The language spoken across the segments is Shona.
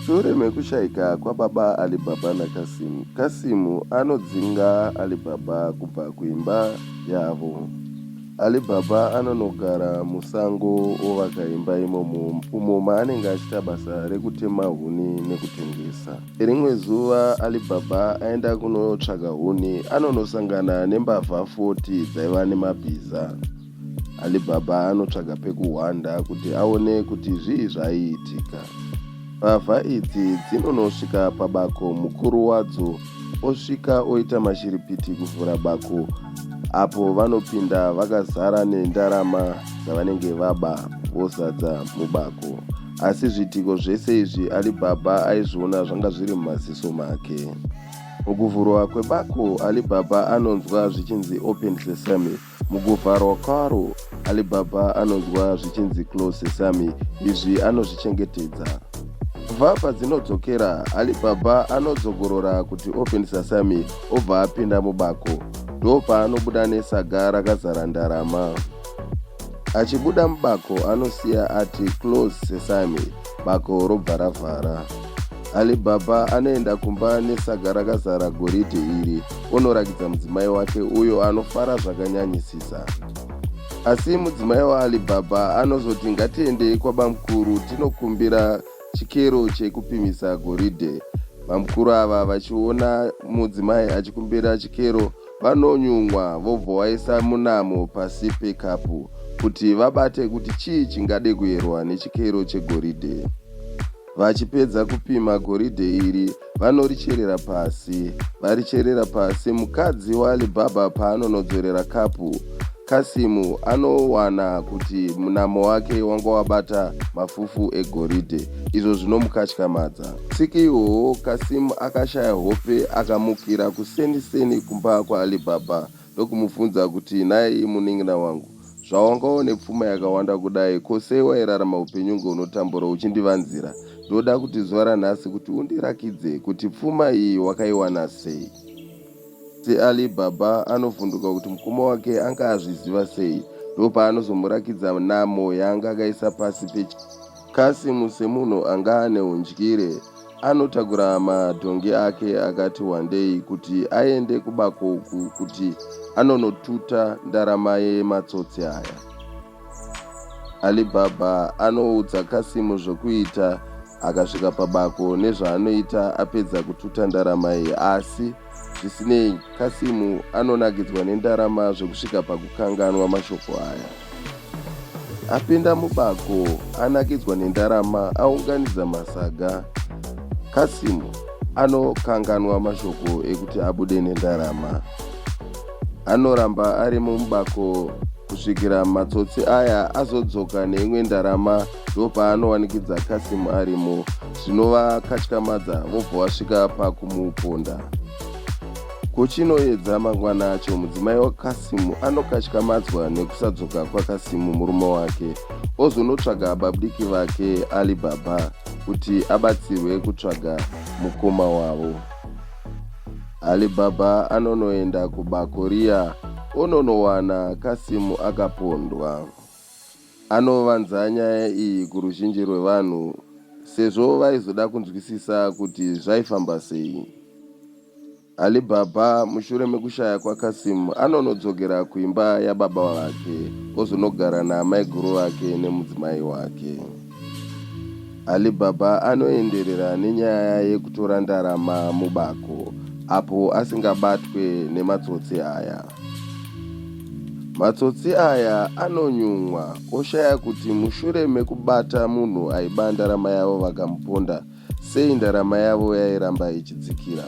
Shure mekushaika kwababa Alibaba naKasim, Kasim anodzinga Alibaba kubva kuimba yavo. Alibaba anonogara musango ovaka imba imomo umo maanenge achiita basa rekutema huni nekutengesa. Rimwe zuva Alibaba aenda kunotsvaga huni anonosangana nembavha 40 dzaiva nemabhiza. Alibaba anotsvaga pekuhwanda kuti aone kuti zvii zvaiitika. Mbavha idzi dzinonosvika pabako mukuru wadzo osvika oita mashiripiti kuvhura bako apo vanopinda vakazara nendarama dzavanenge vaba vozadza mubako. Asi zviitiko zvese izvi Alibaba aizviona zvanga zviri mumaziso make. Mukuvhurwa kwebako, Alibaba anonzwa zvichinzi open sesame. Mukuvharwa kwaro, Alibaba anonzwa zvichinzi close sesame, izvi anozvichengetedza. Kubva padzinodzokera, Alibaba anodzongorora kuti open sesame obva apinda mubako. Ndopaanobuda nesaga rakazara ndarama. Achibuda mubako anosiya ati close sesame. bako robva ravhara alibaba anoenda kumba nesaga rakazara goridhe iri onorakidza mudzimai wake uyo anofara zvakanyanyisisa asi mudzimai waalibaba anozoti ngatiendei kwabamukuru tinokumbira chikero chekupimisa goridhe bamukuru ava vachiona mudzimai achikumbira chikero Vanonyumwa vobvovaisa munamo pasi pekapu kuti vabate kuti chii chingade kuyerwa nechikero chegoridhe. Vachipedza kupima goridhe iri vanoricherera pasi. Varicherera pasi mukadzi waAlibaba paanonodzorera kapu, Kasimu anowana kuti munamo wake wanga wabata mafufu egoridhe izvo zvinomukatyamadza. Tsiki ihoho Kasim akashaya hope akamukira kuseni seni kumba kwaAlibaba ndokumubvunza kuti nhai munin'ina wangu zvawanga une pfuma yakawanda kudai ko sei wairarama upenyu unge unotambura uchindivanzira ndoda kuti zuva ranhasi kuti undirakidze kuti pfuma iyi wakaiwana sei asi Alibaba anovhunduka kuti mukoma wake anga azviziva sei ndopaanozomurakidza namo yaanga akaisa pasi pechi Kasim semunhu anga ane hundyire anotakura madhongi ake akati wandei kuti aende kubako uku kuti anonotuta ndarama yematsotsi aya. Alibaba anoudza Kasim zvokuita akasvika pabako nezvaanoita apedza kututa ndarama iyi asi Zvisinei, Kasim anonakidzwa nendarama zvekusvika pakukanganwa mashoko aya. Apinda mubako, anakidzwa nendarama, aunganidza masaga. Kasim anokanganwa mashoko ekuti abude nendarama. Anoramba arimo mubako kusvikira matsotsi aya azodzoka neimwe ndarama ndopaanowanikidza Kasim arimo zvinova katyamadza vobva wasvika pakumuponda. Kuchinoyedza mangwana acho mudzimai waKasim anokatyamadzwa nekusadzoka kwaKasim murume wake ozonotsvaga babudiki vake Ali Baba kuti abatsirwe kutsvaga mukoma wavo. Ali Baba anonoenda kubako riya ononowana Kasim akapondwa. Anovanza nyaya iyi kuruzhinji rwevanhu sezvo vaizoda kunzwisisa kuti zvaifamba sei. Ali Baba mushure mekushaya kwaKasim anonodzokera kuimba yababa vake ozonogara naamaiguru vake nemudzimai wake. Ali Baba anoenderera nenyaya yekutora ndarama mubako apo asingabatwe nematsotsi aya. Matsotsi aya anonyumwa oshaya kuti mushure mekubata munhu aiba ndarama yavo vakamuponda sei ndarama yavo yairamba ichidzikira.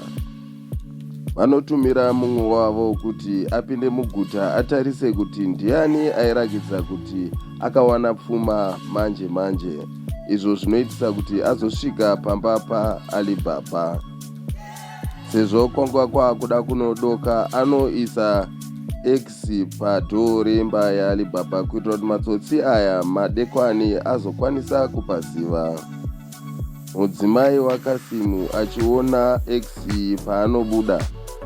Vanotumira mumwe wavo kuti apinde muguta atarise kuti ndiani airakidza kuti akawana pfuma manje manje izvo zvinoitisa kuti azosvika pamba paAlibaba. sezvo kwanga kwakuda kunodoka anoisa x padhoo remba yaalibaba kuitira kuti matsotsi aya madekwani azokwanisa kupaziva mudzimai wakasimu achiona x paanobuda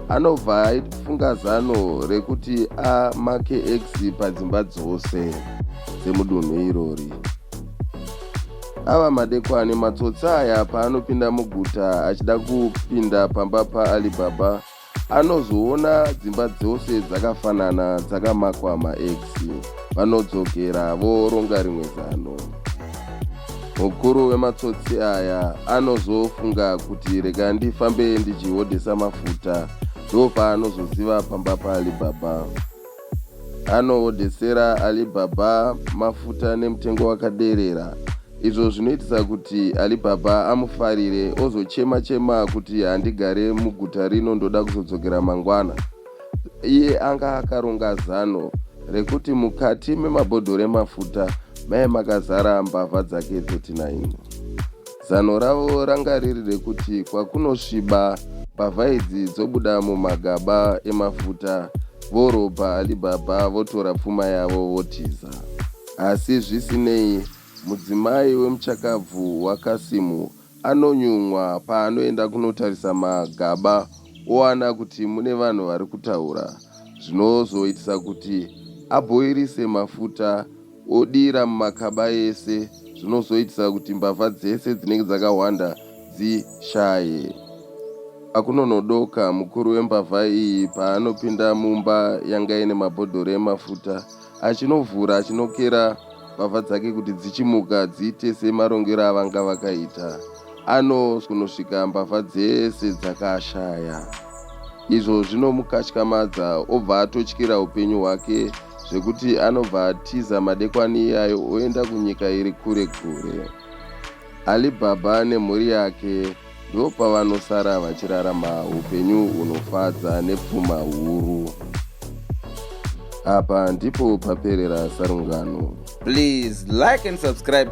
anobva aifunga zano rekuti amake x padzimba dzose dzemudunhu irori Ava madekwani matsotsi aya paanopinda muguta achida kupinda pamba paAlibaba anozoona dzimba dzose dzakafanana dzakamakwa max vanodzokera voronga rimwe zano mukuru wematsotsi aya anozofunga kuti rega ndifambe ndichihodhesa mafuta ndopaanozoziva pamba paali baba Anoodesera Alibaba mafuta nemutengo wakaderera izvo zvinoitisa kuti Alibaba amufarire ozochema chema kuti handigare muguta rino ndoda kuzodzokera mangwana. Iye anga akaronga zano rekuti mukati memabhodhoro emafuta maive makazara mbavha dzake 39. Zano ravo ranga riri rekuti kwakunosviba mbavha idzi dzobuda mumagaba emafuta vorobha Alibaba votora pfuma yavo votiza. Asi zvisinei, mudzimai wemuchakabvu waKasimu anonyumwa paanoenda kunotarisa magaba owana kuti mune vanhu vari kutaura zvinozoitisa kuti abhoirise mafuta odira mumakaba ese zvinozoitisa kuti mbavha dzese dzinenge dzakahwanda dzishaye akunonodoka. Mukuru wembavha iyi paanopinda mumba yanga ine mabhodhoro emafuta achinovhura achinokera mbavha dzake kuti dzichimuka dziite semarongero avanga vakaita anozonosvika mbavha dzese dzakashaya izvo zvinomukatyamadza obva atotyira upenyu hwake zvekuti anobva atiza madekwani iyayo oenda kunyika iri kure kure alibhabha nemhuri yake ndo pavanosara vachirarama upenyu hunofadza nepfuma huru apa ndipo paperera sarungano please like and subscribe